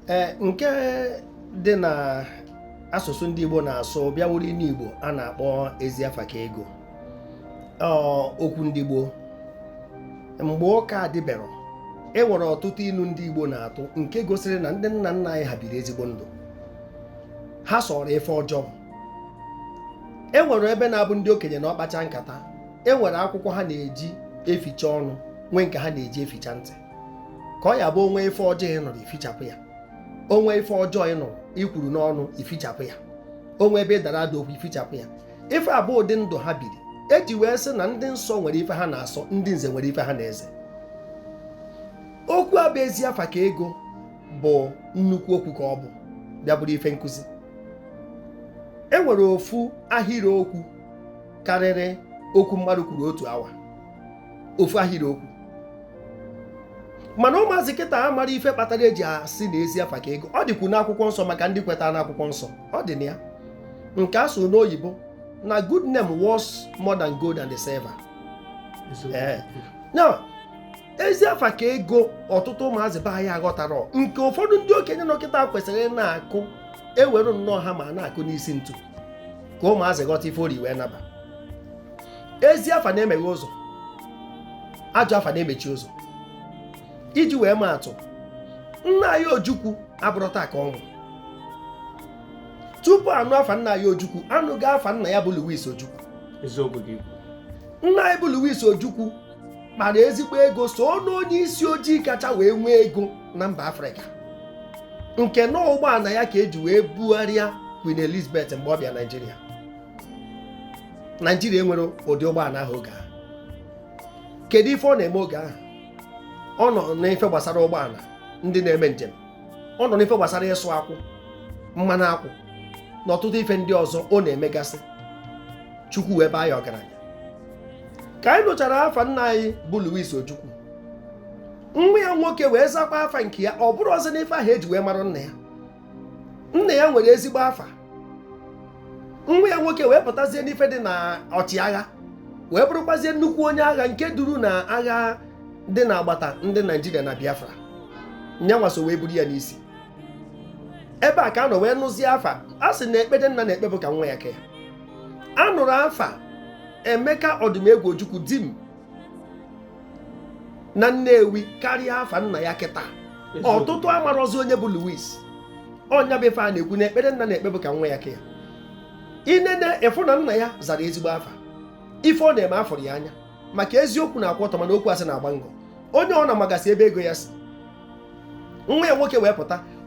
ee nke dị na asụsụ ndị Igbo na-asụ bịa bụrụ inu Igbo a na-akpọ ezi afa ka ego okwu ndị Igbo mgbe ụka adịberọ e nwere ọtụtụ inu ndị Igbo na-atụ nke gosiri na ndị nna nna anyị ha biri ezigbo ndụ ha sọrọ ife ọjọọ e nwere ebe na-abụ ndị okenye nọọ kpachaa nkata e nwere akwụkwọ ha na-eji eficha ọnụ nwee nke ha na-eji eficha ntị ka ọ ya-abụ o nwee ife ọjọọ ị nụrụ i fichapụ ya o nwee ife ọjọọ ị nụrụ i kwuru n'ọnụ i fichapụ ya o nwee ebe ị dara ada okwu i fichapụ ya ife a bụ ụdị ndụ ha biri eji wee sị na ndị nsọ nwere ife ha na-asọ ndị nze nwere ife ha na-eze okwu a bụ ezi afa ka ego bụ nnukwu okwu ka ọ bụ bịa bụrụ ife nkụzi e nwere ofu ahịrị okwu karịrị okwu mmadụ kwuru otu awa ofu ahịrị okwu mana ụmụazị kịta amarọ ife kpatara eji asị na ezi afa ka ego ọ dịkwu n'akwụkwọ nsọ maka ndị kwetara n'akwụkwọ nsọ ọ dị na ya nke a sụ n'oyibo na good name worth more than gold and silver eh. now ezi afa ka ego ọtụtụ ụmụazị be anyị aghọtarọ nke ụfọdụ ndị okenye nọ kịta kwesịrị ịna-akụ ewere nnọọ hammer na-akụ n'isi ntu ka ụmụazị ghọta ife ori wee naba ezi afa na-emeghe ụzọ ajọ afa na-emechi ụzọ iji wee maa atụ nna anyị ojukwu abụrọ taa ka ọ nwụ tupu a nụ afa nna anyị ojukwu a nụgo afa nna ya bụ Louis ojukwu eziokwu gị nna anyị bụ Louis ojukwu kpara ezigbo ego so n'onye isi ojii kacha wee nwee ego na mba afrịka nke na ụgbọana ya ka eji wee bugharịa Queen Elizabeth mgbe ọ bịa Naịjirịa naijiria enwerọ ụdị ụgbọana ahụ oge ahụ kedu ife ọ na-eme oge ahụ ọ nọ n'ife gbasara ụgbọana ndị na-eme njem ọ nọ n'ife gbasara ịsụ akwụ mmanụ akwụ na ọtụtụ ife ndị ọzọ ọ na-emegasị chukwu wee baa ya ọgaranya ka anyị nụchara afa nna anyị bụ Louis Ojukwu nwa ya nwoke wee zakwa afa nke ya ọ bụrọzi n'ife ahụ eji wee mara nna ya nna ya nwere ezigbo afa nwa ya nwoke wee pụtazie n'ife dị na ọchịagha wee bụrụkwazie nnukwu onye agha nke duru na agha dị na agbata ndị naijiria na biafra nya nwa so wee buru ya n'isi ebe a ka a nọ wee nụzie afa a sị na ekpere nna na-ekpe bụ ka nwa ya ka ya a nụrụ afa emeka ọdụmegwu ojukwu dim na Nnewi karịa afa nna ya kịta ọtụtụ amarọzi onye bụ Louis ọ nya bụ ife a na-ekwu na ekpere nna na-ekpe bụ ka nwa ya ka ya i nene ị fụ na nna ya zara ezigbo afa ife ọ na-eme a fụrụ ya anya maka eziokwu na-akwụ ọtọ mana okwu asị na-agba ngọ onye ọna magasị ebe ego ya si nwa ya nwoke wee pụta